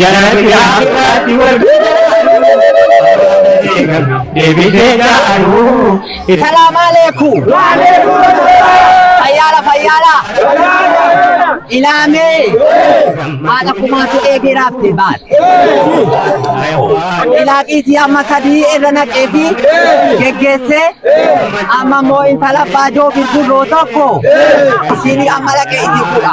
Jarati gaafi irratti wal deebisee jaaru. Salaam aleeku. Fayyaala fayyaala. Ilaamee. Haadha kumaatu eegee raafte baate. Ilaaqiitii amma sadii irra naqee fi geggeessee amma immoo intala baajoo birbirroo tokko isiin amma dhaqee itti fuudha.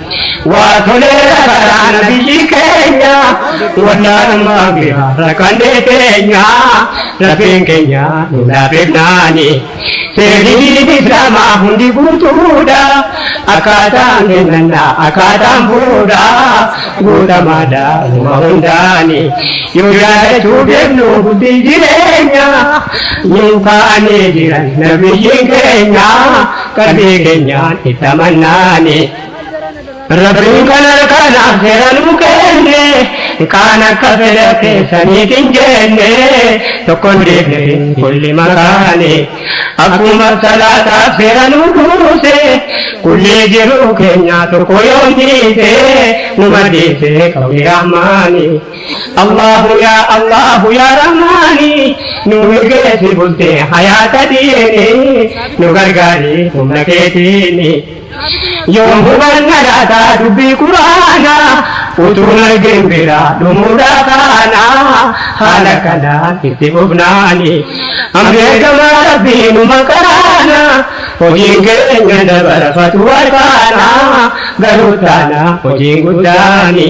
Waatolee rakkataa nabiyyi keenya wallaalummaa bifa rakkannee teenya rabbiin keenya nu laafifnaani seerri islaamaa hundi guutuudha akkaataan kennannaa akkaataan fuudha guutamaadha numa hundaani yoo yaadachuu beeknu hundi jireenya nu kaanee jiran nabiyyiin keenya qalbii keenyaan itti amannaani. Rabbiin kan harkanaaf seera nu kenne kaan akka fedha keessaniif hin jenne tokko deemne kulli makaane akkuma salaataaf seera nu buuse kulli jiruu keenyaa tokko yoo dhiise nu madeesse qawwee rahmaani. Allaahu yaa Allaahu yaa Rahmaani nu milkeessi bultee hayaata diini nu gargaari humna keetiini yoom hubanna laata dubbii quraana utuu nageen bira dhumuudha kaana haala kanaan itti fufnaani ambeekama rabbii nu maqaana hojiin keenya dabarfatu warkaana garuu taana hojiin guddaani.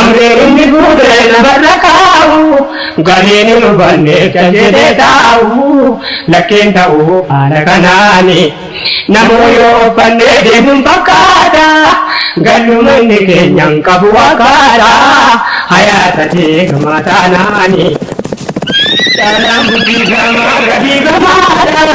Amleen inni fuudhee lafarra kaa'u galiin hin hubanne kan jedhee taa'u lakkeen ta'u haala kanaani namuu yoo uffannee deemuun fakkaata galluma inni keenyaan qabu fakkaata hayaata deegamaa taanaani. Dhalaan guddifama gadiifamaadha.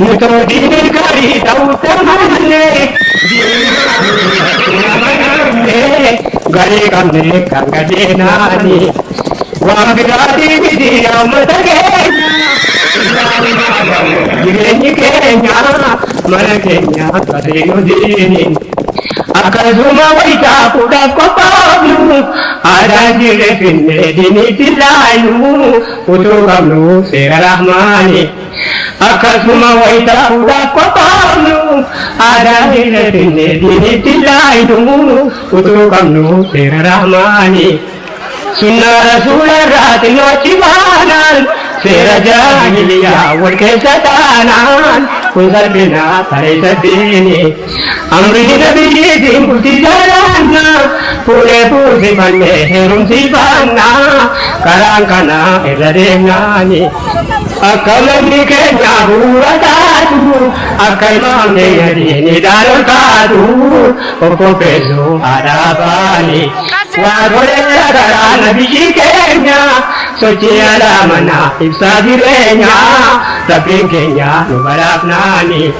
Murtoo diinii gaarii ta'uu taanannee diinii garii qabnee kan gadeenaani waan biraatii miti yaa uummata keenya jireenyi keenya mana keenya garii nu diini akkasuma wayitaa fuudhaaf qophaa'u aadaa jirre finnee diiniitti laayu utuu qabnu seera rahmaani. Akkasuma wayita fuudhaaf qophaa'nu aadaan keenya finnee diinitti laaynu utuu qabnu seera rahmaani. Sunnaa rasuula irraa xinnoo achi baanaan seera jaahiliyyaa wal keessa taanaan kun salphinaa tareessa diini. Amri dida biyyiitiin bultii jaalanna fuudhee fuusifannee heerumsiifanna karaan kana irra deemnaani akka lammii keenya bu'uura taatu akka ilmaan keenya diinii dhaalol kaatu of qopheessuu haadha abbaani waa godheera karaa nabiyyii keenya sochii alaa manaa ibsaa jireenya rabbiin keenya nu badhaafnaani.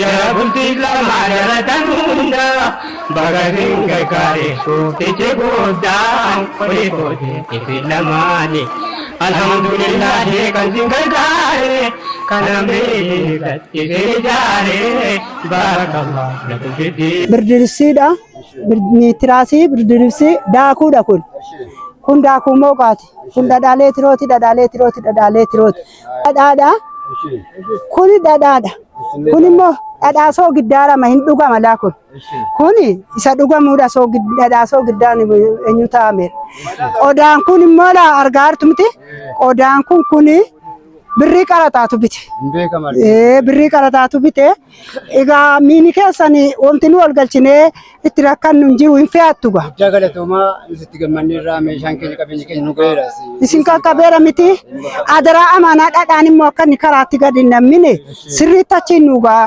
Jara bultiif lamaa jaratan hunda baga sin gargaare gooftichi guddaan oli kooti isin lamaani. Alhamdulillahi kan sin gargaare kan amrii gad isin ijaare baarakallah lakum fiddi. Birdilibsiidha. Niitiraasii birdilibsii daakuudha kun. Kun daakuu mooqaati. Kun dhadhaa leetirooti, dhadhaa leetirooti, dhadhaa leetirooti. Dhadhaadha. Kuni dhadhaadha. Kun immoo dhadhaa soogiddaarama hin dhugama laa kun. Kuni isa dhugamuudha dhadhaa soogiddaan eenyu taa'ame. Qodaan kun immoo laa argaa jirtu miti. Qodaan kun kuni birrii qarataatu bite. Birrii qarataatu bite. Egaa miini keessan wanti nu walgalchinee itti rakkannu hin jiru hin fe'attu gaa. Guddaa galatoomaa nus itti gammanneerraa meeshaan keenya qabeenyi keenya nu ga'eera. Isin qaqqabeera miti adaraa amaanaa dhadhaan immoo akka inni karaatti gadi hin nammine sirriitti achiin nu ga'a.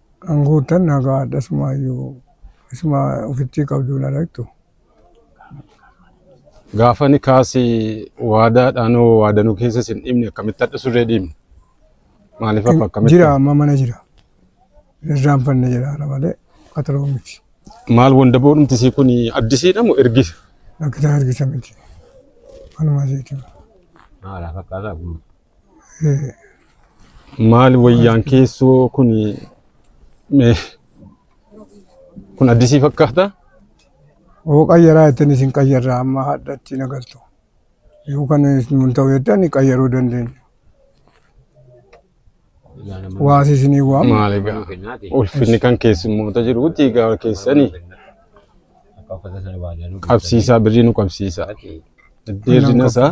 An guuttan nagaadha isumaayyuu isuma ofittii qabduun aragtu. Gaafa ni kaasi waadaadhaan hoo waadanuu keessa sin dhimne akkamitti hadha surree dhiimne? Maaliif akka akkamitti? Jira amma mana jira. Irraan fanne jira ana malee qaxaloo miti. Maal wandaboo dhumti sii kun addisiidha moo ergisa? Rakkisaa ergisa miti. Anuma asiiti. Maalaaf akkaataa kun Maal wayyaan keessoo kun mee kun addisii fakkaata? Oo qayyaraa ittiin isin qayyarra amma hadha ittiin agartu. Yoo kan nun ta'u jettan qayyaruu dandeenya. Waasi isinii waama. Maal egaa ulfinni kan keessummoota jiruuti egaa keessanii qabsiisaa birrii nu qabsiisaa. Deerrina isaa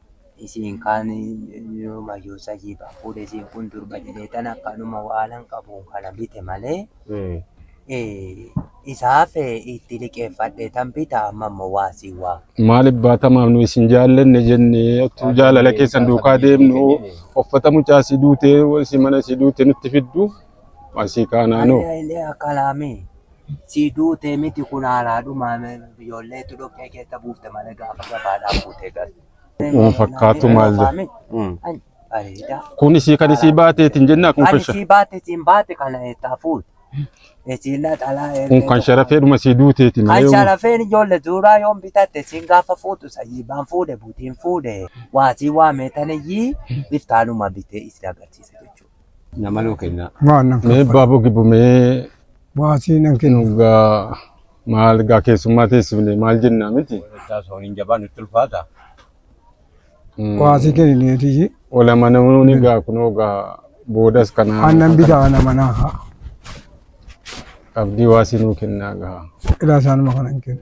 Isiin kaan inuma yoo sahii irraa fuudhe isiin kun durba jedhee tan akkanuma waanan qabuun kana bite malee isaaf itti liqeeffadhe tan bita amma immoo waa sii waa. Maaliif baatamaaf nu isin jaallanne jenne ottuu jaalala keessan duukaa deemnu uffata mucaa si duutee si mana si duute nutti fiddu asii kaanaanoo. Ani illee akkalaamee. Sii duute miti kun haalaadhuma ijoolleetu dhoqqee keessa buufte malee gaafa gabaadhaa fuutee galte. Kun fakkaatu maal jedha? Ani bareedaa. Kun isii kan isii baateetiin jennaa kun Kan kan sha- isii baate siin baate kana eessaa fuute. Isiin naxalaa kun eegee kan sharafeedhuma sii duuteeti Kan malee. sharafeen ijoollee duuraa yoon bitatte siin gaafa fuutu sayyiibaan fuudhe butiin fuudhe waasii waamee tanayyii iftaanuma bitee isin agarsiisa jechuudha. Namaloo kennaa. Waan nan Mee kaffala. baaboo gibbu mee Baasii nan kenna. dhugaa maal gaa keessummaa teessifne maal jennaa miti. Taas horiin jabaa nutti ulfaata. Mm. Baasii kennineetii. Olama namoonni gaa kunoo gaa boodas kanaa Aannan bitaa ana manaa haa. qabdii waasii nuu kennaa gaa. Ilaa isaanuma kana hin kennu.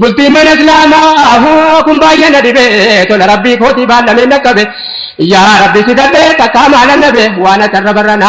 Bultii mana islaamaa kun baay'ee na dhibe tola rabbii kootii baallamee na qabe yaa rabbi si dhabe takkaa maala nabe waan ati irra barra na.